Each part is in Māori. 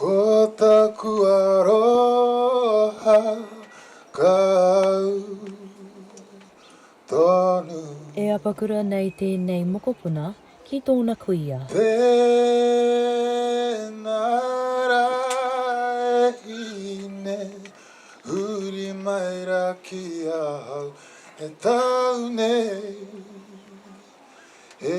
Ko taku aroha kau tonu. E apakura nei tēnei mokopuna ki tōna kuia. Tēnā rā e hine, huri mai rā ki ahau he tau nei e.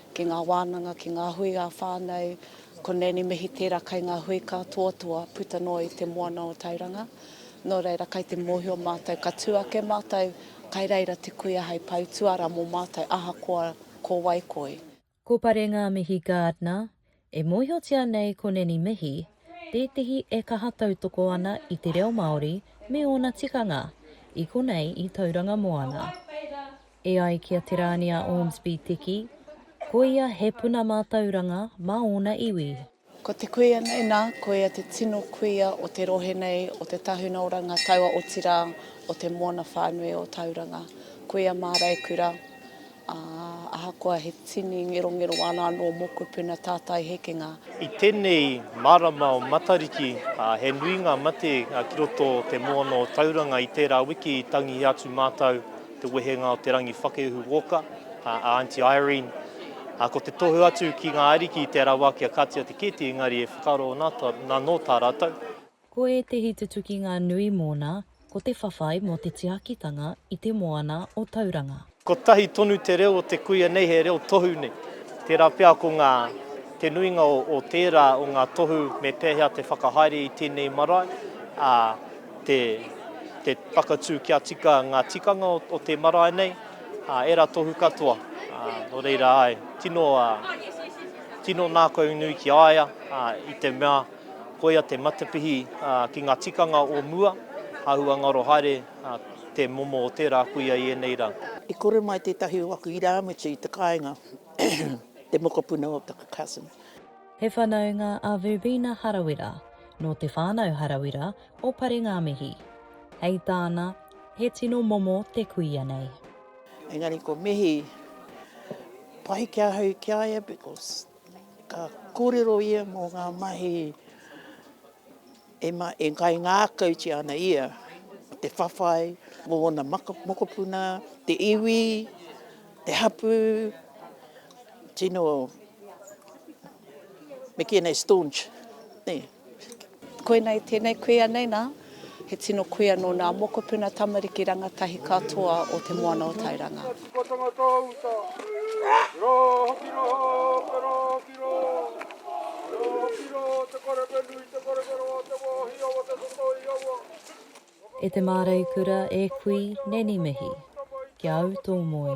ki ngā wānanga, ki ngā hui ā-whānau, ko Nanny Mihi tērā kai ngā hui kātoatoa puta noa i te moana o Tauranga. Nō reira, kai te mōhio mātou, ka tū ake mātou, kai reira te kuia hei pau tuara mō mātou ahakoa ko wai koi. Ko Pare Ngāmihi Gardner, E mōhiotia nei ko Nanny Mihi tētehi e kaha tautoko ana i te reo Māori me ōna tikanga, i konei i Tauranga Moana. E ai ki a Te Rāni a Ormsby Teki, ko ia he puna mātauranga mā ōna iwi. Ko te kuia nei, nā, ko ia te tino kuia o te rohe nei, o te tahuna o Rangataua, otirā, o te moana whānui o Tauranga. Kuia māraikura. Ā, ahakoa he tini ngerongero āna anō mōkupu na tātai hekenga. I tenei marama o Matariki, he nui nga mate ki roto o te moana o Tauranga. I tera wiki i tangi atu matou te wehenga o Te Rangiwhakehu Walker, a Aunty Irene. Ko te tohu atu ki nga ariki i te rawa kia katia te kete engari e whakaro na no ta ratou. Ko ētehi tutukinga nui mōna, ko te whawhai mō te tiakitanga i te moana o Tauranga. Kotahi tonu te reo o te kuia nei he reo tohu nei, tērā pea ko ngā, te nuinga o tērā o ngā tohu me pēhea te whakahaere i tēnei marae, ā, te, te whakatū kia tika ngā tikanga o te marae nei, ā, ērā tohu katoa, ā, nō reira āe, tino, ā, tino nākaunui ki a ia, ā, i te mea. Koia te matapihi ki ngā tikanga o mua, āhua ngaro haere te momo o tērā kuia i ēnei rā. I kore mai tētahi o aku irāmutu i te kāinga, te mokopuna o taku cousin. He whanaunga a Verbena Harawira, nō Te Whānau Harawira o Parengāmihi. Hei tāna, he tino momo te kuia nei. Engari ko Mihi, pai ki ahau ki a ia because Ka kōrero ia mō ngā mahi e, ma, e kaingākautia ana ia, ko te whawhai, mō ōna maka, mokopuna, te iwi, te hapū, tino, me kīa nei staunch, nē. Koinei tēnei kuia nei nā, he tino kuia nō nā mokopuna tamariki rangatahi katoa o Te Moana o Tairanga. Tikotanga Tōuta, Rō hoki rō Te rō hoki rō Rō hoki rō Te korewhe nui Te korewhe roa Te wāhi awa Te totoi awa Whakatō E te māreikura e kui neni mihi Ki a au tō moe.